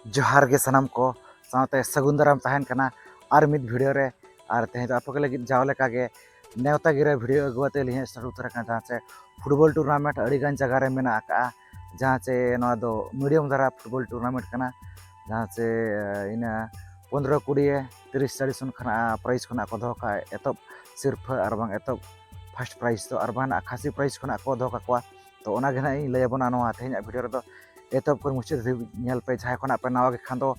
ᱡᱚᱦᱟᱨ ᱜᱮ ᱥᱟᱱᱟᱢ ᱠᱚ ᱥᱟᱶᱛᱮ ᱥᱟᱹᱜᱩᱱ ᱫᱟᱨᱟᱢ ᱛᱟᱦᱮᱱ ᱠᱟᱱᱟ ᱟᱨ ᱢᱤᱫ ᱵᱷᱤᱰᱤᱭᱳ ᱨᱮ ᱟᱨ ᱛᱮᱦᱮᱧ ᱫᱚ ᱟᱯᱮ ᱠᱚ ᱞᱟᱹᱜᱤᱫ ᱡᱟᱣ ᱞᱮᱠᱟᱜᱮ ᱱᱮᱣᱛᱟ ᱜᱤᱨᱟᱹ ᱵᱷᱤᱰᱤᱭᱳ ᱟᱹᱜᱩ ᱠᱟᱛᱮ ᱞᱤᱧ ᱥᱮᱴᱮᱨ ᱩᱛᱟᱹᱨ ᱟᱠᱟᱱᱟ ᱡᱟᱦᱟᱸ ᱪᱮ ᱯᱷᱩᱴᱵᱚᱞ ᱴᱩᱨᱱᱟᱢᱮᱱᱴ ᱟᱹᱰᱤᱜᱟᱱ ᱡᱟᱭᱜᱟ ᱨᱮ ᱢᱮᱱᱟᱜ ᱟᱠᱟᱜᱼᱟ ᱡᱟᱦᱟᱸ ᱪᱮ ᱱᱚᱣᱟ ᱫᱚ ᱢᱤᱰᱤᱭᱟᱢ ᱫᱷᱟᱨᱟ ᱯᱷᱩᱴᱵᱚᱞ ᱴᱩᱨᱱᱟᱢᱮᱱᱴ ᱠᱟᱱᱟ ᱡᱟᱦᱟᱸ ᱪᱮ ᱤᱱᱟᱹ ᱯᱚᱱᱨᱚ ᱠᱩᱲᱤᱭᱮ ᱛᱤᱨᱤᱥ ᱪᱟᱞᱤᱥ ᱚᱱᱠᱟᱱᱟᱜ ᱯᱨᱟᱭᱤᱡᱽ ᱠᱷᱚᱱᱟᱜ ᱠᱚ ᱫᱚᱦᱚ ᱠᱟᱜᱼᱟ ᱮᱛᱚᱦᱚᱵ ᱥᱤᱨᱯᱷᱟᱹ ᱟᱨ ᱵᱟᱝ ᱮᱛᱚᱦᱚᱵ ᱯᱷᱟᱥᱴ ᱯᱨᱟᱭᱤᱡᱽ ᱫᱚ ᱟᱨ ᱵᱟᱝ ᱠᱷᱟᱥᱤ ᱯᱨᱟᱭᱤᱡᱽ ᱠᱷᱚᱱᱟᱜ ᱠᱚ ᱫᱚᱦᱚ ᱠᱟᱠᱚᱣᱟ ᱛᱚ ᱚᱱᱟᱜᱮ ᱱᱟᱦᱟᱜ ᱤᱧ ᱞᱟᱹᱭ ᱟᱵᱚᱱᱟ ᱱᱚᱣᱟ ᱛᱮᱦᱮᱧᱟᱜ ᱵᱷᱤᱰᱤᱭᱳ ᱨᱮᱫᱚ ᱮᱛᱚᱦᱚᱵ ᱠᱷᱚᱱ ᱢᱩᱪᱟᱹᱫ ᱫᱷᱟᱹᱵᱤᱡ ᱧᱮᱞ ᱯᱮ ᱡᱟᱦᱟᱸᱭ ᱠᱷᱚᱱᱟᱜ ᱯᱮ ᱱᱟᱣᱟ ᱜᱮ ᱠᱷᱟᱱ ᱫᱚ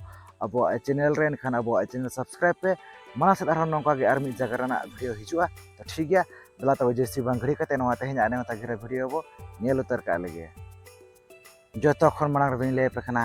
ᱟᱵᱚᱣᱟᱜ ᱪᱮᱱᱮᱞ ᱨᱮ ᱮᱱᱠᱷᱟᱱ ᱟᱵᱚᱣᱟᱜ ᱪᱮᱱᱮᱞ ᱥᱟᱵᱥᱠᱨᱟᱭᱤᱵ ᱯᱮ ᱢᱟᱲᱟᱝ ᱥᱮᱫ ᱟᱨᱦᱚᱸ ᱱᱚᱝᱠᱟ ᱜᱮ ᱟᱨ ᱢᱤᱫ ᱡᱟᱭᱜᱟ ᱨᱮᱱᱟᱜ ᱵᱷᱤᱰᱤᱭᱳ ᱦᱤᱡᱩᱜᱼᱟ ᱛᱚ ᱴᱷᱤᱠ ᱜᱮᱭᱟ ᱫᱮᱞᱟ ᱛᱚᱵᱮ ᱡᱟᱹᱥᱛᱤ ᱵᱟᱝ ᱜᱷᱟᱹᱲᱤ ᱠᱟᱛᱮ ᱱᱚᱣᱟ ᱛᱮᱦᱮᱧᱟᱜ ᱱᱮᱣᱛᱟ ᱜᱤᱨᱟᱹ ᱵᱷᱤᱰᱤᱭᱳ ᱵᱚ ᱧᱮᱞ ᱩᱛᱟᱹᱨ ᱠᱟᱜ ᱞᱮᱜᱮ ᱡᱚᱛᱚ ᱠᱷᱚᱱ ᱢᱟᱲᱟᱝ ᱨᱮᱫᱚᱧ ᱞᱟᱹᱭ ᱟᱯᱮ ᱠᱟᱱᱟ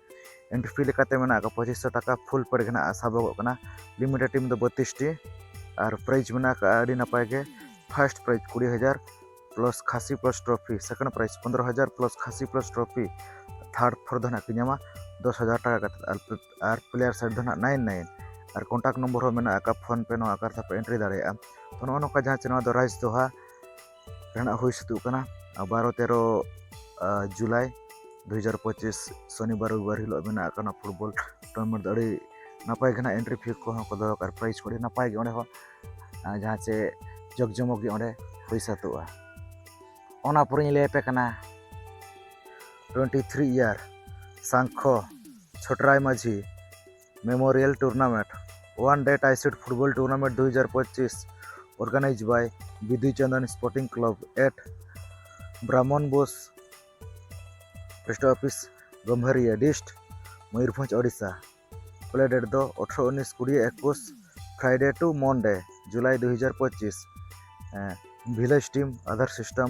ᱮᱱᱴᱨᱤ ᱯᱷᱤ ᱞᱮᱠᱟᱛᱮ ᱢᱮᱱᱟᱜ ᱟᱠᱟᱫ ᱯᱚᱸᱪᱤᱥ ᱥᱚ ᱴᱟᱠᱟ ᱯᱷᱩᱞ ᱯᱮᱰ ᱜᱮ ᱱᱟᱦᱟᱜ ᱥᱟᱵᱚᱜᱚᱜ ᱠᱟᱱᱟ ᱞᱤᱢᱤᱴᱮᱰ ᱴᱤᱢ ᱫᱚ ᱵᱚᱛᱤᱥᱴᱤ ᱟᱨ ᱯᱨᱟᱭᱤᱡᱽ ᱢᱮᱱᱟᱜ ᱟᱠᱟᱫᱼᱟ ᱟᱹᱰᱤ ᱱᱟᱯᱟᱭ ᱜᱮ ᱯᱷᱟᱨᱥᱴ ᱯᱨᱟᱭᱤᱡᱽ ᱠᱩᱲᱤ ᱦᱟᱡᱟᱨ ᱯᱞᱟᱥ ᱠᱷᱟᱥᱤ ᱯᱞᱟᱥ ᱴᱨᱚᱯᱷᱤ ᱥᱮᱠᱮᱱᱰ ᱯᱨᱟᱭᱤᱡᱽ ᱯᱚᱱᱨᱚ ᱦᱟᱡᱟᱨ ᱯᱞᱟᱥ ᱠᱷᱟᱥᱤ ᱯᱞᱟᱥ ᱴᱨᱚᱯᱷᱤ ᱛᱷᱟᱨᱰ ᱯᱷᱳᱨ ᱫᱚ ᱱᱟᱦᱟᱜ ᱠᱚ ᱧᱟᱢᱟ ᱫᱚᱥ ᱦᱟᱡᱟᱨ ᱴᱟᱠᱟ ᱠᱟᱛᱮᱫ ᱟᱨ ᱯᱞᱮᱭᱟᱨ ᱥᱟᱭᱤᱰ ᱫᱚ ᱱᱟᱦᱟᱜ ᱱᱟᱭᱤᱱ ᱱᱟᱭᱤᱱ ᱟᱨ ᱠᱚᱱᱴᱟᱠᱴ ᱱᱚᱢᱵᱚᱨ ᱦᱚᱸ ᱢᱮᱱᱟᱜ ᱟᱠᱟᱫᱼᱟ ᱯᱷᱳᱱ ᱯᱮ ᱱᱚᱣᱟ ᱟᱠᱟᱨ ᱛᱮᱯᱮ ᱮᱱᱴᱨᱤ ᱫᱟᱲᱮᱭᱟᱜᱼᱟ ᱛᱚ ᱱᱚᱜᱼᱚ ᱱᱚᱝᱠᱟ ᱡᱟᱦᱟᱸ ᱪᱮ ᱱᱚᱣᱟ ᱫᱚ ᱨᱟᱭᱤᱥ ᱫᱚᱦᱟ ᱨᱮᱱᱟᱜ ᱦᱩᱭ ᱥᱟᱹᱛᱚᱜ ᱠᱟᱱᱟ ᱵᱟᱨᱚ ᱛᱮᱨᱚ ᱡᱩᱞᱟᱭ ᱫᱩ ᱦᱟᱡᱟᱨ ᱯᱚᱸᱪᱤᱥ ᱥᱚᱱᱤᱵᱟᱨ ᱨᱚᱵᱤᱵᱟᱨ ᱦᱤᱞᱳᱜ ᱢᱮᱱᱟᱜ ᱠᱟᱱᱟ ᱯᱷᱩᱴᱵᱚᱞ ᱴᱩᱨᱱᱟᱢᱮᱱᱴ ᱫᱚ ᱟᱹᱰᱤ ᱱᱟᱯᱟᱭ ᱜᱮ ᱱᱟᱦᱟᱜ ᱮᱱᱴᱨᱤ ᱯᱷᱤ ᱠᱚᱦᱚᱸ ᱠᱚ ᱫᱚᱦᱚ ᱠᱟᱜᱼᱟ ᱯᱨᱟᱭᱤᱡᱽ ᱠᱚ ᱟᱹᱰᱤ ᱱᱟᱯᱟᱭ ᱜᱮ ᱚᱸᱰᱮ ᱦᱚᱸ ᱡᱟᱦᱟᱸ ᱪᱮ ᱡᱚᱜᱽ ᱡᱚᱢᱚᱠ ᱜᱮ ᱚᱸᱰᱮ ᱦᱩᱭ ᱥᱟᱹᱛᱚᱜᱼᱟ ᱚᱱᱟ ᱯᱚᱨᱮᱧ ᱞᱟᱹᱭ ᱟᱯᱮ ᱠᱟᱱᱟ ᱴᱩᱭᱮᱱᱴᱤ ᱛᱷᱨᱤ ᱤᱭᱟᱨ ᱥᱟᱝᱠᱷᱚ ᱪᱷᱚᱴᱨᱟᱭ Majhi memorial tournament one day ᱴᱟᱭᱥᱤᱰ ᱯᱷᱩᱴᱵᱚᱞ ᱴᱩᱨᱱᱟᱢᱮᱱᱴ ᱫᱩ ᱦᱟᱡᱟᱨ ᱯᱚᱸᱪᱤᱥ organise bye Bidu Chandan sporting club at ᱵᱨᱟᱢᱚᱱ Bose post office Gamharia district Mayurbhanj Odisha play date ᱫᱚ ᱟᱴᱷᱨᱚ ᱩᱱᱤᱥ ᱠᱩᱲᱤ ᱮᱠᱩᱥ ᱯᱷᱨᱟᱭᱰᱮ ᱴᱩ ᱢᱚᱱᱰᱮ ᱡᱩᱞᱟᱭ ᱫᱩ ᱦᱟᱡᱟᱨ ᱯᱚᱸᱪᱤᱥ village team Aadhaar system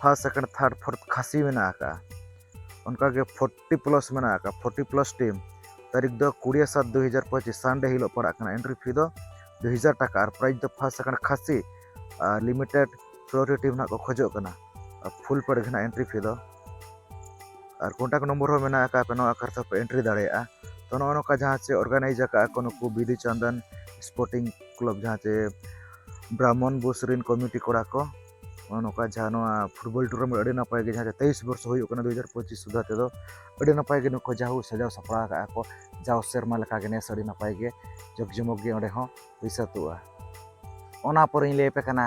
first second third fourth ᱠᱷᱟᱹᱥᱤ ᱢᱮᱱᱟᱜ ᱟᱠᱟᱫᱼᱟ ᱚᱱᱠᱟᱜᱮ ᱯᱷᱳᱨᱴᱤ ᱯᱞᱟᱥ ᱢᱮᱱᱟᱜ ᱟᱠᱟᱫᱼᱟ ᱯᱷᱳᱨᱴᱤ ᱯᱞᱟᱥ ᱴᱤᱢ ᱛᱟᱹᱨᱤᱠᱷ ᱫᱚ ᱠᱩᱲᱤ ᱥᱟᱛ ᱫᱩ ᱦᱟᱡᱟᱨ ᱯᱚᱸᱪᱤᱥ ᱥᱟᱱᱰᱮ ᱦᱤᱞᱳᱜ ᱯᱟᱲᱟᱜ ᱠᱟᱱᱟ ᱮᱱᱴᱨᱤ ᱯᱷᱤ ᱫᱚ ᱫᱩ ᱦᱟᱡᱟᱨ ᱴᱟᱠᱟ ᱟᱨ ᱯᱨᱟᱭᱤᱡᱽ ᱫᱚ ᱯᱷᱟᱥᱴ ᱥᱮᱠᱮᱱᱰ ᱠᱷᱟᱹᱥᱤ ᱟᱨ ᱞᱤᱢᱤᱴᱮᱰ ᱯᱨᱳᱨᱤ ᱴᱤᱢ ᱱᱟᱜ ᱠᱚ ᱠᱷᱚᱡᱚᱜ ᱠᱟᱱᱟ ᱟᱨ ᱯᱷᱩᱞ ᱯᱮᱰ ᱜᱮ ᱱᱟᱜ ᱮᱱᱴᱨᱤ ᱯᱷᱤ ᱫᱚ ᱟᱨ ᱠᱚᱱᱴᱟᱠ ᱱᱚᱢᱵᱚᱨ ᱦᱚᱸ ᱢᱮᱱᱟᱜ ᱟᱠᱟᱫ ᱯᱮ ᱱᱚᱣᱟ ᱟᱠᱟᱨ ᱛᱮᱯᱮ ᱮᱱᱴᱨᱤ ᱫᱟᱲᱮᱭᱟᱜᱼᱟ ᱛᱚ ᱱᱚᱜᱼᱚ ᱱᱚᱝᱠᱟ ᱡᱟᱦᱟᱸ ᱪᱮ ᱚᱨᱜᱟᱱᱟᱭᱤᱡᱽ ᱟᱠᱟᱫᱼᱟ ᱠᱚ ᱱᱩᱠᱩ ᱵᱤᱫᱩ ᱪᱟᱱᱫᱟᱱ ᱥᱯᱳᱨᱴᱤᱝ ᱠᱞᱟᱵᱽ ᱡᱟᱦᱟᱸ ᱪᱮ ᱵᱨᱟᱦᱢᱚᱱ ᱵᱳᱥ ᱨᱮᱱ ᱠᱚᱢᱤᱴᱤ ᱠᱚᱲᱟ ᱠᱚ ᱱᱚᱜᱼᱚ ᱱᱚᱝᱠᱟ ᱡᱟᱦᱟᱸ ᱱᱚᱣᱟ ᱯᱷᱩᱴᱵᱚᱞ ᱴᱩᱨᱱᱟᱢᱮᱱᱴ ᱟᱹᱰᱤ ᱱᱟᱯᱟᱭ ᱜᱮ ᱡᱟᱦᱟᱸ ᱛᱮᱭᱤᱥ ᱵᱚᱨᱥᱚ ᱦᱩᱭᱩᱜ ᱠᱟᱱᱟ ᱫᱩ ᱦᱟᱡᱟᱨ ᱯᱚᱸᱪᱤᱥ ᱥᱩᱫᱷᱟ ᱛᱮᱫᱚ ᱟᱹᱰᱤ ᱱᱟᱯᱟᱭ ᱜᱮ ᱱᱩᱠᱩ ᱡᱟᱦᱳ ᱥᱟᱡᱟᱣ ᱥᱟᱯᱲᱟᱣ ᱟᱠᱟᱫᱼᱟ ᱠᱚ ᱡᱟᱣ ᱥᱮᱨᱢᱟ ᱞᱮᱠᱟᱜᱮ ᱱᱮᱥ ᱟᱹᱰᱤ ᱱᱟᱯᱟᱭ ᱜᱮ ᱡᱚᱜᱽ ᱡᱚᱢᱚᱠ ᱜᱮ ᱚᱸᱰᱮ ᱦᱚᱸ ᱦᱩᱭ ᱥᱟᱹᱛᱚᱜᱼᱟ ᱚᱱᱟ ᱯᱚᱨᱮᱧ ᱞᱟᱹᱭ ᱟᱯᱮ ᱠᱟᱱᱟ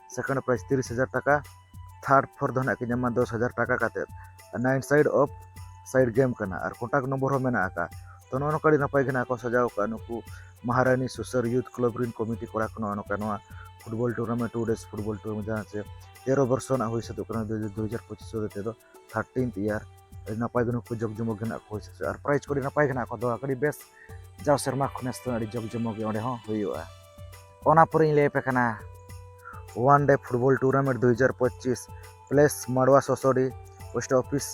ᱥᱮᱠᱮᱱᱰ ᱯᱨᱟᱭᱤᱡᱽ ᱛᱤᱨᱤᱥ ᱦᱟᱡᱟᱨ ᱴᱟᱠᱟ ᱛᱷᱟᱨᱰ ᱯᱷᱳᱨ ᱫᱚ ᱱᱟᱦᱟᱜ ᱠᱤᱱ ᱧᱟᱢᱟ ᱫᱚᱥ ᱦᱟᱡᱟᱨ ᱴᱟᱠᱟ ᱠᱟᱛᱮᱫ nine side of side game ᱠᱟᱱᱟ ᱟᱨ ᱠᱚᱱᱴᱟᱠᱴ ᱱᱚᱢᱵᱚᱨ ᱦᱚᱸ ᱢᱮᱱᱟᱜ ᱟᱠᱟᱫᱼᱟ ᱛᱚ ᱱᱚᱜᱼᱚ ᱱᱚᱝᱠᱟ ᱟᱹᱰᱤ ᱱᱟᱯᱟᱭ ᱜᱮ ᱱᱟᱦᱟᱜ ᱠᱚ ᱥᱟᱡᱟᱣ ᱟᱠᱟᱫᱼᱟ ᱱᱩᱠᱩ ᱢᱟᱦᱟᱨᱟᱱᱤ ᱥᱩᱥᱟᱹᱨ ᱭᱩᱛᱷ ᱠᱞᱟᱵᱽ ᱨᱮᱱ ᱠᱚᱢᱤᱴᱤ ᱠᱚᱲᱟ ᱠᱚ ᱱᱚᱜᱼᱚ ᱱᱚᱝᱠᱟ ᱱᱚᱣᱟ football tournament two day football tournament ᱡᱟᱦᱟᱸ ᱪᱮ ᱛᱮᱨᱚ ᱵᱚᱨᱥᱚ ᱨᱮᱱᱟᱜ ᱦᱩᱭ ᱥᱟᱹᱛᱚᱜ ᱠᱟᱱᱟ ᱫᱩ ᱦᱟᱡᱟᱨ ᱯᱚᱸᱪᱤᱥ ᱦᱚᱛᱮ ᱛᱮᱫᱚ ᱛᱷᱟᱨᱴᱤᱱᱛᱷ ᱤᱭᱟᱨ ᱟᱹᱰᱤ ᱱᱟᱯᱟᱭ ᱜᱮ ᱱᱩᱠᱩ ᱡᱚᱜᱽ ᱡᱚᱢᱚᱠ ᱜᱮ ᱦᱮᱱᱟᱜ ᱠᱚ ᱟᱨ ᱯᱨᱟᱭᱤᱡᱽ ᱠᱚ ᱟᱹᱰᱤ ᱱᱟᱯᱟᱭ ᱜᱮ ᱦᱮᱱᱟᱜ ᱠᱚᱣᱟ ᱫᱚ ᱟᱹᱰᱤ ᱵᱮᱥ ᱡᱟᱣ ᱥᱮᱨᱢᱟ ᱠᱷᱚᱱ ᱱᱮᱥ ᱫᱚ ᱟᱹᱰᱤ ᱡᱚᱜᱽ ᱡᱚᱢᱚᱠ ᱜᱮ ᱚᱸᱰᱮ ᱦᱚᱸ ᱦᱩᱭᱩᱜᱼᱟ ᱚᱱᱟ ᱯᱚᱨᱮᱧ ᱞᱟᱹᱭ ᱟᱯᱮ ᱠᱟᱱᱟ ᱳᱣᱟᱱ ᱰᱮ ᱯᱷᱩᱴᱵᱚᱞ ᱴᱩᱨᱱᱟᱢᱮᱱᱴ ᱫᱩ ᱦᱟᱡᱟᱨ ᱯᱚᱸᱪᱤᱥ place Marwa Sosodi post office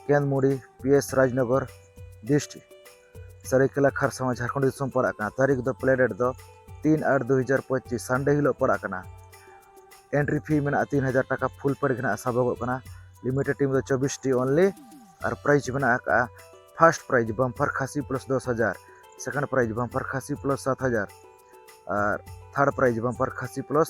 Kendmuri P S Rajnagar dist ᱥᱟᱹᱨᱟᱹᱭᱠᱮᱞᱟ ᱠᱷᱟᱨᱥᱟᱣᱟ ᱡᱷᱟᱨᱠᱷᱚᱸᱰ ᱫᱤᱥᱚᱢ ᱯᱟᱲᱟᱜ ᱠᱟᱱᱟ ᱛᱟᱹᱨᱤᱠᱷ ᱫᱚ ᱯᱞᱮ ᱰᱮᱴ ᱫᱚ ᱛᱤᱱ ᱟᱴ ᱫᱩ ᱦᱟᱡᱟᱨ ᱯᱚᱸᱪᱤᱥ ᱥᱟᱱᱰᱮ ᱦᱤᱞᱳᱜ ᱯᱟᱲᱟᱜ ᱠᱟᱱᱟ ᱮᱱᱴᱨᱤ ᱯᱷᱤ ᱢᱮᱱᱟᱜᱼᱟ ᱛᱤᱱ ᱦᱟᱡᱟᱨ ᱴᱟᱠᱟ ᱯᱷᱩᱞ ᱯᱮᱰ ᱜᱮ ᱱᱟᱦᱟᱜ ᱥᱟᱵᱚᱜᱚᱜ ᱠᱟᱱᱟ ᱞᱤᱢᱤᱴᱮᱰ ᱴᱤᱢ ᱫᱚ ᱪᱚᱵᱵᱤᱥ ᱴᱤ ᱚᱱᱞᱤ ᱟᱨ ᱯᱨᱟᱭᱤᱡᱽ ᱢᱮᱱᱟᱜ ᱟᱠᱟᱜᱼᱟ ᱯᱷᱟᱨᱥᱴ ᱯᱨᱟᱭᱤᱡᱽ ᱵᱟᱢᱯᱷᱟᱨ ᱠᱷᱟᱥᱤ ᱯᱞᱟᱥ ᱫᱚᱥ ᱦᱟᱡᱟᱨ ᱥᱮᱠᱮᱱᱰ ᱯᱨᱟᱭᱤᱡᱽ ᱵᱟᱢᱯᱷᱟᱨ ᱠᱷᱟᱥᱤ ᱯᱞᱟᱥ ᱥᱟᱛ ᱦᱟᱡᱟᱨ ᱟᱨ ᱛᱷᱟᱨᱰ ᱯᱨᱟᱭᱤᱡᱽ ᱵᱟᱢᱯᱷᱟᱨ ᱠᱷᱟᱥᱤ ᱯᱞᱟᱥ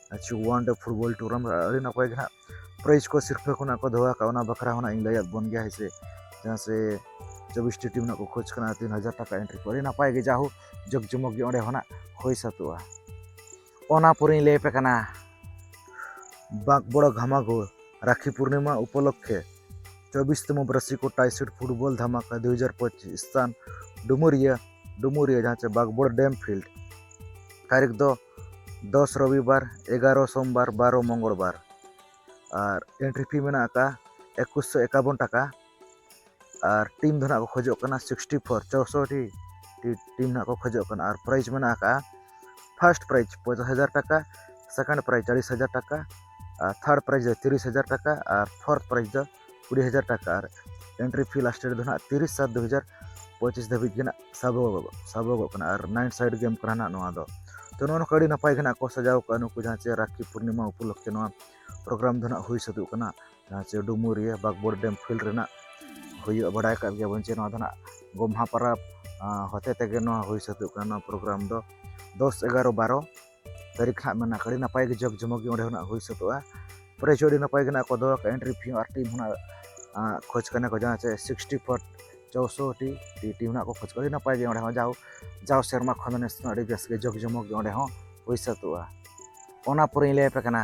ᱟᱪᱪᱷᱟ ᱳᱣᱟᱱ ᱰᱮ ᱯᱷᱩᱴᱵᱚᱞ ᱴᱩᱨᱱᱟᱢᱮᱱᱴ ᱟᱹᱰᱤ ᱱᱟᱯᱟᱭ ᱜᱮ ᱦᱟᱸᱜ ᱯᱨᱟᱭᱤᱡᱽ ᱠᱚ ᱥᱤᱨᱯᱷᱟᱹ ᱠᱷᱚᱱᱟᱜ ᱠᱚ ᱫᱚᱦᱚ ᱟᱠᱟᱫ ᱚᱱᱟ ᱵᱟᱠᱷᱨᱟ ᱦᱚᱸ ᱤᱧ ᱞᱟᱹᱭᱟᱫ ᱵᱚᱱ ᱜᱮᱭᱟ ᱦᱮᱸᱥᱮ ᱡᱟᱦᱟᱸ ᱥᱮ ᱪᱚᱵᱵᱤᱥᱴᱤ ᱴᱤᱢ ᱨᱮᱱᱟᱜ ᱠᱚ ᱠᱷᱚᱡᱽ ᱠᱟᱱᱟ ᱛᱤᱱ ᱦᱟᱡᱟᱨ ᱴᱟᱠᱟ ᱮᱱᱴᱨᱤ ᱠᱚ ᱟᱹᱰᱤ ᱱᱟᱯᱟᱭ ᱜᱮ ᱡᱟᱦᱳ ᱡᱚᱜᱽ ᱡᱚᱢᱚᱠ ᱜᱮ ᱚᱸᱰᱮ ᱦᱚᱸ ᱦᱩᱭ ᱥᱟᱹᱛᱚᱜᱼᱟ ᱚᱱᱟ ᱯᱚᱨᱮᱧ ᱞᱟᱹᱭ ᱟᱯᱮ ᱠᱟᱱᱟ ᱵᱟᱸᱠ ᱵᱚᱲᱚ ᱜᱷᱟᱢᱟᱜᱩᱲ ᱨᱟᱠᱷᱤ ᱯᱩᱨᱱᱤᱢᱟ ᱩᱯᱚᱞᱚᱠᱠᱷᱮ ᱪᱚᱵᱵᱤᱥᱛᱚᱢᱚ ᱵᱨᱟᱥᱤ ᱠᱚ ᱴᱟᱭᱥᱤᱰ ᱯᱷᱩᱴᱵᱚᱞ ᱫᱷᱟᱢᱟᱠᱟ ᱫᱩ ᱦᱟᱡᱟᱨ ᱯᱚᱸᱪᱤᱥ ᱥᱛᱷᱟᱱ ᱰᱩᱢᱩᱨᱤᱭᱟᱹ ᱰᱩᱢᱩᱨᱤᱭᱟᱹ ᱡᱟᱦᱟᱸ ᱪᱮ ᱵᱟᱸᱠᱵᱚᱲ ᱰᱮᱢ ᱯᱷᱤᱞᱰ ᱛᱟᱹᱨᱤᱠᱷ ᱫᱚ ᱫᱚᱥ ᱨᱚᱵᱤᱵᱟᱨ ᱮᱜᱟᱨᱚ ᱥᱚᱢᱵᱟᱨ ᱵᱟᱨᱚ ᱢᱚᱝᱜᱚᱞ ᱵᱟᱨ ᱟᱨ ᱮᱱᱴᱨᱤ ᱯᱷᱤ ᱢᱮᱱᱟᱜ ᱟᱠᱟᱫᱼᱟ ᱮᱠᱩᱥ ᱥᱚ ᱮᱠᱟᱵᱚᱱ ᱴᱟᱠᱟ ᱟᱨ ᱴᱤᱢ ᱫᱚ ᱱᱟᱦᱟᱜ ᱠᱚ ᱠᱷᱚᱡᱚᱜ ᱠᱟᱱᱟ ᱥᱤᱠᱥᱴᱤ ᱯᱷᱳᱨ ᱪᱳᱥᱚᱴᱴᱤ ᱴᱤᱢ ᱱᱟᱦᱟᱜ ᱠᱚ ᱠᱷᱚᱡᱚᱜ ᱠᱟᱱᱟ ᱟᱨ ᱯᱨᱟᱭᱤᱡᱽ ᱢᱮᱱᱟᱜ ᱟᱠᱟᱫᱼᱟ ᱯᱷᱟᱥᱴ ᱯᱨᱟᱭᱤᱡᱽ ᱯᱚᱸᱪᱟᱥ ᱦᱟᱡᱟᱨ ᱴᱟᱠᱟ ᱥᱮᱠᱮᱱᱰ ᱯᱨᱟᱭᱤᱡᱽ ᱪᱟᱞᱤᱥ ᱦᱟᱡᱟᱨ ᱴᱟᱠᱟ ᱟᱨ ᱛᱷᱟᱨᱰ ᱯᱨᱟᱭᱤᱡᱽ ᱫᱚ ᱛᱤᱨᱤᱥ ᱦᱟᱡᱟᱨ ᱴᱟᱠᱟ ᱟᱨ ᱯᱷᱳᱨᱛᱷ ᱯᱨᱟᱭᱤᱡᱽ ᱫᱚ ᱠᱩᱲᱤ ᱦᱟᱡᱟᱨ ᱴᱟᱠᱟ ᱟᱨ ᱮᱱᱴᱨᱤ ᱯᱷᱤ ᱞᱟᱥᱴ ᱨᱮᱫᱚ ᱱᱟᱦᱟᱜ ᱛᱤᱨᱤᱥ ᱥᱟᱛ ᱫᱩ ᱦᱟᱡᱟᱨ ᱯᱚᱸᱪᱤᱥ ᱫᱷᱟᱹᱵᱤᱡ ᱜᱮ ᱱᱟᱦᱟᱜ ᱥᱟᱵᱚᱜᱚᱜ ᱥᱟᱵᱚᱜᱚᱜ ᱠᱟᱱᱟ ᱟᱨ ᱱᱟᱭᱤᱴ ᱥᱟᱭᱤᱰ ᱜᱮᱢ ᱠᱟᱱᱟ ᱱᱟᱦᱟᱜ ᱱᱚᱣᱟ ᱫᱚ ᱛᱚ ᱱᱚᱣᱟ ᱱᱚᱝᱠᱟ ᱟᱹᱰᱤ ᱱᱟᱯᱟᱭ ᱜᱮ ᱱᱟᱦᱟᱜ ᱠᱚ ᱥᱟᱡᱟᱣ ᱠᱟᱜᱼᱟ ᱱᱩᱠᱩ ᱡᱟᱦᱟᱸ ᱪᱮ ᱨᱟᱠᱷᱤ ᱯᱩᱨᱱᱤᱢᱟ ᱩᱯᱚᱞᱚᱠᱠᱷᱮ ᱱᱚᱣᱟ ᱯᱨᱳᱜᱨᱟᱢ ᱫᱚ ᱱᱟᱦᱟᱜ ᱦᱩᱭ ᱥᱟᱹᱛᱚᱜ ᱠᱟᱱᱟ ᱡᱟᱦᱟᱸ ᱪᱮ ᱰᱩᱢᱩᱨᱤᱭᱟᱹ ᱵᱟᱜᱽᱵᱚᱲ ᱰᱮᱢ ᱯᱷᱤᱞᱰ ᱨᱮᱱᱟᱜ ᱦᱩᱭᱩᱜᱼᱟ ᱵᱟᱰᱟᱭ ᱠᱟᱜ ᱜᱮᱭᱟᱵᱚᱱ ᱪᱮ ᱱᱚᱣᱟ ᱫᱚ ᱱᱟᱦᱟᱜ ᱜᱚᱢᱦᱟ ᱯᱚᱨᱚᱵᱽ ᱦᱚᱛᱮ ᱛᱮᱜᱮ ᱱᱚᱣᱟ ᱦᱩᱭ ᱥᱟᱹᱛᱚᱜ ᱠᱟᱱᱟ ᱱᱚᱣᱟ ᱯᱨᱳᱜᱨᱟᱢ ᱫᱚ ᱫᱚᱥ ᱮᱜᱟᱨᱚ ᱵᱟᱨᱚ ᱛᱟᱹᱨᱤᱠᱷ ᱦᱟᱸᱜ ᱢᱮᱱᱟᱜ ᱟᱹᱰᱤ ᱱᱟᱯᱟᱭ ᱜᱮ ᱡᱚᱜᱽ ᱡᱚᱢᱚᱠ ᱜᱮ ᱚᱸᱰᱮ ᱦᱚᱸ ᱦᱩᱭ ᱥᱟᱹᱛᱚᱜᱼᱟ ᱯᱨᱟᱭᱤᱡᱽ ᱦᱚᱸ ᱟᱹᱰᱤ ᱱᱟᱯᱟᱭ ᱜᱮ ᱱᱟᱜ ᱠᱚ ᱫᱚᱦᱚ ᱟᱠᱟᱫᱼᱟ ᱮᱱᱴᱨᱤ ᱯᱷᱤ ᱦᱚᱸ ᱟᱨ ᱴᱤᱢ ᱦᱚᱸ ᱠᱷᱚᱡᱽ ᱠᱟᱱᱟ ᱠᱚ ᱡᱟᱦᱟᱸ ᱪᱮ ᱥᱤᱠᱥᱴᱤ ᱯᱷᱳᱨ ᱪᱳᱥᱳᱴᱤ ᱴᱤ ᱴᱤᱢ ᱦᱟᱸᱜ ᱠᱚ ᱠᱷᱚᱡᱽ ᱠᱟᱱᱟ ᱟᱹᱰᱤ ᱱᱟᱯᱟᱭ ᱜᱮ ᱚᱸᱰᱮ ᱦᱚᱸ ᱡᱟᱣ ᱡᱟᱣ ᱥᱮᱨᱢᱟ ᱠᱷᱚᱱ ᱫᱚ ᱱᱮᱥ ᱫᱚ ᱟᱹᱰᱤ ᱵᱮᱥ ᱜᱮ ᱡᱚᱜᱽ ᱡᱚᱢᱚᱠ ᱜᱮ ᱚᱸᱰᱮ ᱦᱚᱸ ᱦᱩᱭ ᱥᱟᱹᱛᱚᱜᱼᱟ ᱚᱱᱟ ᱯᱚᱨᱮᱧ ᱞᱟᱹᱭ ᱟᱯᱮ ᱠᱟᱱᱟ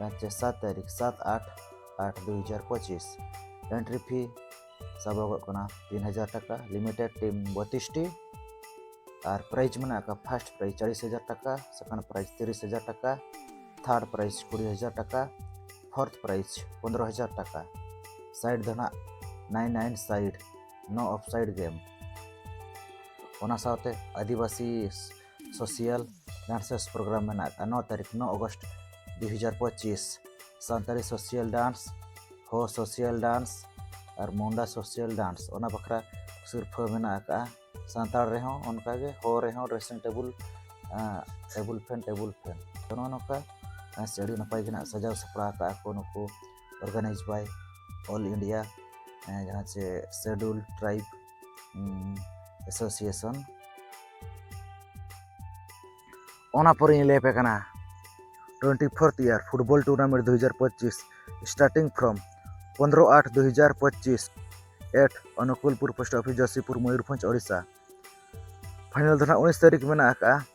ᱨᱟᱡᱽᱭᱚ ᱥᱟᱛ ᱛᱟᱹᱨᱤᱠᱷ ᱥᱟᱛ ᱟᱴ ᱟᱴ ᱫᱩ ᱦᱟᱡᱟᱨ ᱯᱚᱸᱪᱤᱥ ᱮᱱᱴᱨᱤ ᱯᱷᱤ ᱥᱟᱵᱚᱜᱚᱜ ᱠᱟᱱᱟ ᱛᱤᱱ ᱦᱟᱡᱟᱨ ᱴᱟᱠᱟ ᱞᱤᱢᱤᱴᱮᱰ ᱴᱤᱢ ᱵᱚᱛᱤᱥᱴᱤ ᱟᱨ ᱯᱨᱟᱭᱤᱡᱽ ᱢᱮᱱᱟᱜ ᱟᱠᱟᱫ ᱯᱷᱟᱥᱴ ᱯᱨᱟᱭᱤᱡᱽ ᱪᱟᱞᱤᱥ ᱦᱟᱡᱟᱨ ᱴᱟᱠᱟ ᱥᱮᱠᱮᱱᱰ ᱯᱨᱟᱭᱤᱡᱽ ᱛᱤᱨᱤᱥ ᱦᱟᱡᱟᱨ ᱴᱟᱠᱟ ᱛᱷᱟᱨᱰ ᱯᱨᱟᱭᱤᱡᱽ ᱠᱩᱲᱤ ᱦᱟᱡᱟᱨ ᱴᱟᱠᱟ ᱯᱷᱳᱨᱛᱷ ᱯᱨᱟᱭᱤᱡᱽ ᱯᱚᱱᱨᱚ ᱦᱟᱡᱟᱨ ᱴᱟᱠᱟ ᱥᱟᱭᱤᱰ ᱫᱚ ᱱᱟᱜ ᱱᱟᱭᱤᱱ ᱱᱟᱭᱤᱱ ᱥᱟᱭᱤᱰ ᱱᱚ ᱚᱯᱷ ᱥᱟᱭᱤᱰ ᱜᱮᱢ ᱚᱱᱟ ᱥᱟᱶᱛᱮ ᱟᱹᱫᱤᱵᱟᱹᱥᱤ ᱥᱳᱥᱤᱭᱟᱞ ᱰᱟᱱᱥᱮᱥ ᱯᱨᱳᱜᱨᱟᱢ ᱢᱮᱱᱟᱜ ᱟᱠᱟᱫᱼᱟ ᱱᱚ ᱛᱟᱹᱨᱤᱠᱷ ᱱᱚ ᱚᱜᱚᱥᱴ ᱫᱩ ᱦᱟᱡᱟᱨ ᱯᱚᱸᱪᱤᱥ ᱥᱟᱱᱛᱟᱲᱤ ᱥᱳᱥᱤᱭᱟᱞ ᱰᱟᱱᱥ ᱦᱳ ᱥᱳᱥᱤᱭᱟᱞ ᱰᱟᱱᱥ ᱟᱨ ᱢᱩᱱᱰᱟ ᱥᱳᱥᱤᱭᱟᱞ ᱰᱟᱱᱥ ᱚᱱᱟ ᱵᱟᱠᱷᱨᱟ ᱥᱤᱨᱯᱷᱟᱹ ᱢᱮᱱᱟᱜ ᱟᱠᱟᱫᱼᱟ ᱥᱟᱱᱛᱟᱲ ᱨᱮᱦᱚᱸ ᱚᱱᱠᱟᱜᱮ ᱦᱳ ᱨᱮᱦᱚᱸ dressing table table fan table fan ᱛᱚ ᱱᱚᱜᱼᱚ ᱱᱚᱝᱠᱟ ᱥᱮ ᱟᱹᱰᱤ ᱱᱟᱯᱟᱭ ᱜᱮ ᱱᱟᱜ ᱥᱟᱡᱟᱣ ᱥᱟᱯᱲᱟᱣ ᱟᱠᱟᱫᱼᱟ ᱠᱚ ᱱᱩᱠᱩ ᱚᱨᱜᱟᱱᱟᱭᱤᱡᱽ ᱵᱟᱭ ᱚᱞ ᱤᱱᱰᱤᱭᱟ ᱡᱟᱦᱟᱸ ᱪᱮ ᱥᱮᱰᱩᱞ ᱴᱨᱟᱭᱤᱵᱽ ᱮᱥᱳᱥᱤᱭᱮᱥᱚᱱ ᱚᱱᱟ ᱯᱚᱨᱮᱧ ᱞᱟᱹᱭ ᱟᱯᱮ ᱠᱟᱱᱟ twenty fourth year football tournament ᱫᱩ ᱦᱟᱡᱟᱨ ᱯᱚᱸᱪᱤᱥ ᱥᱴᱟᱨᱴᱤᱝ ᱯᱷᱨᱚᱢ ᱯᱚᱱᱨᱚ ᱟᱴ ᱫᱩ ᱦᱟᱡᱟᱨ ᱯᱚᱸᱪᱤᱥ at Anukulpur post office Jashipur Mayurbhanj Odisha final ᱫᱚ ᱱᱟᱦᱟᱜ ᱩᱱᱤᱥ ᱛᱟᱹᱨᱤᱠᱷ ᱢᱮᱱᱟᱜ ᱟᱠᱟᱫᱼᱟ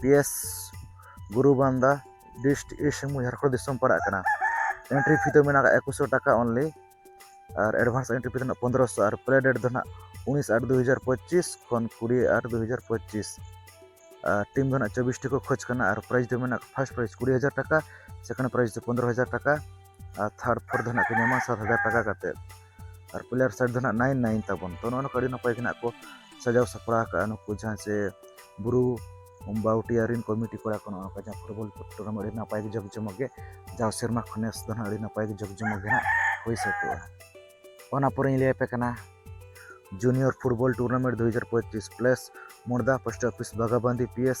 P S Guru Banda district east Singhbhum Jharkhand ᱫᱤᱥᱚᱢ ᱯᱟᱲᱟᱜ ᱠᱟᱱᱟ ᱮᱱᱴᱨᱤ ᱯᱷᱤ ᱫᱚ ᱢᱮᱱᱟᱜᱼᱟ ᱮᱠᱩᱥᱚ ᱴᱟᱠᱟ ᱚᱱᱞᱤ ᱟᱨ ᱮᱰᱵᱷᱟᱱᱥ ᱮᱱᱴᱨᱤ ᱯᱷᱤ ᱫᱚ ᱱᱟᱜ ᱯᱚᱱᱫᱨᱚᱥᱚ ᱟᱨ ᱯᱞᱮ ᱰᱮᱴ ᱫᱚ ᱱᱟᱜ ᱩᱱᱤᱥ ᱟᱴ ᱫᱩ ᱦᱟᱡᱟᱨ ᱯᱚᱸᱪᱤᱥ ᱠᱷᱚᱱ ᱠᱩᱲᱤ ᱟᱴ ᱫᱩ ᱦᱟᱡᱟᱨ ᱯᱚᱸᱪᱤᱥ ᱟᱨ ᱴᱤᱢ ᱫᱚ ᱱᱟᱜ ᱪᱚᱵᱵᱤᱥᱴᱤ ᱠᱚ ᱠᱷᱚᱡᱽ ᱠᱟᱱᱟ ᱟᱨ ᱯᱨᱟᱭᱤᱡᱽ ᱫᱚ ᱢᱮᱱᱟᱜ ᱯᱷᱟᱥᱴ ᱯᱨᱟᱭᱤᱡᱽ ᱠᱩᱲᱤ ᱦᱟᱡᱟᱨ ᱴᱟᱠᱟ ᱥᱮᱠᱮᱱᱰ ᱯᱨᱟᱭᱤᱡᱽ ᱫᱚ ᱯᱚᱱᱫᱨᱚ ᱦᱟᱡᱟᱨ ᱴᱟᱠᱟ ᱟᱨ ᱛᱷᱟᱨᱰ ᱯᱷᱳᱨᱛᱷ ᱫᱚ ᱱᱟᱜ ᱠᱚ ᱧᱟᱢᱟ ᱥᱟᱛ ᱦᱟᱡᱟᱨ ᱴᱟᱠᱟ ᱠᱟᱛᱮᱫ ᱟᱨ ᱯᱞᱮᱭᱟᱨ ᱥᱟᱭᱤᱰ ᱫᱚ ᱱᱟᱦᱟᱜ ᱱᱟᱭᱤᱱ ᱱᱟᱭᱤᱱ ᱛᱟᱵᱚᱱ ᱛᱚ ᱱᱚᱜᱼᱚ ᱱᱚᱝᱠᱟ ᱟᱹᱰᱤ ᱱᱟᱯᱟᱭ ᱜᱮ ᱱᱟᱦᱟᱜ ᱠᱚ ᱥᱟᱡᱟᱣ ᱥᱟᱯᱲᱟᱣ ᱠᱟᱜᱼᱟ ᱱᱩᱠᱩ ᱡᱟᱦᱟᱸ ᱥᱮ ᱵᱩᱨᱩ ᱵᱟᱣᱴᱤᱭᱟ ᱨᱮᱱ ᱠᱚᱢᱤᱴᱤ ᱠᱚᱲᱟ ᱠᱚ ᱱᱚᱜᱼᱚ ᱱᱚᱝᱠᱟ ᱡᱟᱦᱟᱸ ᱯᱷᱩᱴᱵᱚᱞ ᱴᱩᱨᱱᱟᱢᱮᱱᱴ ᱟᱹᱰᱤ ᱱᱟᱯᱟᱭ ᱜᱮ ᱡᱟᱠ ᱡᱚᱢᱚᱠ ᱜᱮ ᱡᱟᱣ ᱥᱮᱨᱢᱟ ᱠᱷᱚᱱ ᱱᱮᱥ ᱫᱚ ᱱᱟᱦᱟᱜ ᱟᱹᱰᱤ ᱱᱟᱯᱟᱭ ᱜᱮ ᱡᱟᱠ ᱡᱚᱢᱚᱠ ᱜᱮ ᱱᱟᱦᱟᱜ ᱦᱩᱭ ᱥᱟᱹᱛᱚᱜᱼᱟ ᱚᱱᱟ ᱯᱚᱨᱮᱧ ᱞᱟᱹᱭ ᱟᱯᱮ ᱠᱟᱱᱟ ᱡᱩᱱᱤᱭᱚᱨ ᱯᱷᱩᱴᱵᱚᱞ ᱴᱩᱨᱱᱟᱢᱮᱱᱴ ᱫᱩ ᱦᱟᱡᱟᱨ ᱯᱚᱸᱪᱤᱥ place Morda post office Bagabandi P S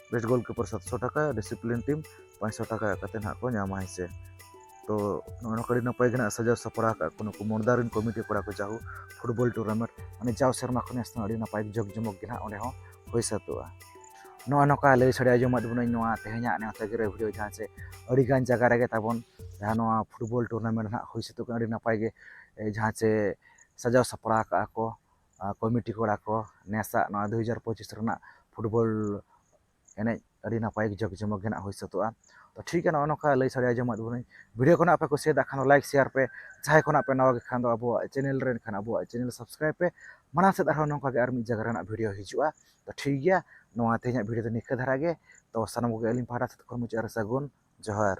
best goalkeeper ᱥᱟᱛᱥᱚ ᱴᱟᱠᱟ ᱰᱤᱥᱤᱯᱞᱤᱱ ᱴᱤᱢ ᱯᱟᱸᱪᱥᱚ ᱴᱟᱠᱟ ᱠᱟᱛᱮ ᱱᱟᱦᱟᱜ ᱠᱚ ᱧᱟᱢᱟ ᱦᱮᱸ ᱥᱮ ᱛᱚ ᱱᱚᱜᱼᱚ ᱱᱚᱝᱠᱟ ᱟᱹᱰᱤ ᱱᱟᱯᱟᱭ ᱜᱮ ᱱᱟᱦᱟᱜ ᱥᱟᱡᱟᱣ ᱥᱟᱯᱲᱟᱣ ᱠᱟᱜ ᱠᱚ ᱱᱩᱠᱩ ᱢᱚᱲᱫᱟ ᱨᱮᱱ ᱠᱚᱢᱤᱴᱤ ᱠᱚᱲᱟ ᱠᱚ ᱡᱟᱦᱳ ᱯᱷᱩᱴᱵᱚᱞ ᱴᱩᱨᱱᱟᱢᱮᱱᱴ ᱢᱟᱱᱮ ᱡᱟᱣ ᱥᱮᱨᱢᱟ ᱠᱷᱚᱱ ᱱᱮᱥ ᱟᱹᱰᱤ ᱱᱟᱯᱟᱭ ᱡᱚᱜᱽ ᱡᱚᱢᱚᱠ ᱜᱮ ᱱᱟᱦᱟᱜ ᱚᱸᱰᱮ ᱦᱚᱸ ᱦᱩᱭ ᱥᱟᱹᱛᱚᱜᱼᱟ ᱱᱚᱜᱼᱚ ᱱᱚᱝᱠᱟ ᱞᱟᱹᱭ ᱥᱟᱰᱮ ᱟᱸᱡᱚᱢᱟᱫ ᱵᱚᱱᱟᱹᱧ ᱱᱚᱣᱟ ᱛᱮᱦᱮᱧᱟᱜ ᱱᱮᱣᱛᱟ ᱜᱤᱨᱟᱹ ᱵᱷᱤᱰᱤᱭᱳ ᱡᱟᱦᱟᱸ ᱪᱮ ᱟᱹᱰᱤ ᱜᱟᱱ ᱡᱟᱭᱜᱟ ᱨᱮᱜᱮ ᱛᱟᱵᱚᱱ ᱡᱟᱦᱟᱸ ᱱᱚᱣᱟ ᱯᱷᱩᱴᱵᱚᱞ ᱴᱩᱨᱱᱟᱢᱮᱱᱴ ᱱᱟᱦᱟᱜ ᱦᱩᱭ ᱥᱟᱹᱛᱚᱜ ᱠᱟᱱᱟ ᱟᱹᱰᱤ ᱱᱟᱯᱟᱭ ᱜᱮ ᱡᱟᱦᱟᱸ ᱪᱮ ᱥᱟᱡᱟᱣ ᱥᱟᱯᱲᱟᱣ ᱠᱟᱜᱼᱟ ᱠᱚ ᱠᱚᱢᱤᱴᱤ ᱠᱚᱲᱟ ᱠᱚ ᱱᱮᱥᱟᱜ ᱱᱚᱣᱟ ᱫᱩ ᱦᱟᱡᱟᱨ ᱯᱚᱸᱪᱤᱥ ᱨᱮᱱᱟᱜ ᱯᱷᱩᱴᱵᱚᱞ ᱮᱱᱮᱡ ᱟᱹᱰᱤ ᱱᱟᱯᱟᱭ ᱡᱟᱠ ᱡᱚᱢᱚᱠ ᱜᱮ ᱦᱟᱸᱜ ᱦᱩᱭ ᱥᱟᱹᱛᱚᱜᱼᱟ ᱛᱚ ᱴᱷᱤᱠ ᱜᱮᱭᱟ ᱱᱚᱜᱼᱚᱭ ᱱᱚᱝᱠᱟ ᱞᱟᱹᱭ ᱥᱟᱰᱮ ᱟᱸᱡᱚᱢᱟᱜ ᱵᱚᱱᱟᱹᱧ ᱵᱷᱤᱰᱤᱭᱳ ᱠᱚ ᱱᱟᱦᱟᱜ ᱯᱮ ᱠᱩᱥᱤᱭᱟᱫᱟ ᱠᱷᱟᱱ ᱫᱚ ᱞᱟᱭᱤᱠ ᱥᱮᱭᱟᱨ ᱯᱮ ᱡᱟᱦᱟᱸᱭ ᱠᱚ ᱱᱟᱦᱟᱜ ᱯᱮ ᱱᱟᱣᱟ ᱜᱮ ᱠᱷᱟᱱ ᱫᱚ ᱟᱵᱚᱣᱟᱜ ᱪᱮᱱᱮᱞ ᱨᱮ ᱮᱱᱠᱷᱟᱱ ᱟᱵᱚᱣᱟᱜ ᱪᱮᱱᱮᱞ ᱥᱟᱵᱥᱠᱨᱟᱭᱤᱵᱽ ᱯᱮ ᱢᱟᱲᱟᱝ ᱥᱮᱫ ᱟᱨᱦᱚᱸ ᱱᱚᱝᱠᱟ ᱜᱮ ᱟᱨ ᱢᱤᱫ ᱡᱟᱭᱜᱟ ᱨᱮᱱᱟᱜ ᱵᱷᱤᱰᱤᱭᱳ ᱦᱤᱡᱩᱜᱼᱟ ᱛᱚ ᱴᱷᱤᱠ ᱜᱮᱭᱟ ᱱᱚᱣᱟ ᱛᱮᱦᱮᱧᱟᱜ ᱵᱷᱤᱰᱤᱭᱳ ᱫᱚ ᱱᱤᱝᱠᱟᱹ ᱫᱷᱟᱨᱟ ᱜᱮ ᱛᱚ ᱥᱟᱱᱟᱢ ᱠᱚᱜᱮ ᱟᱹᱞᱤᱧ ᱯᱟᱦᱴᱟ ᱥᱮᱫ ᱠᱷᱚᱱ ᱢᱩᱪᱟᱹᱫ ᱨᱮ ᱥᱟᱹᱜᱩᱱ ᱡᱚᱦᱟᱨ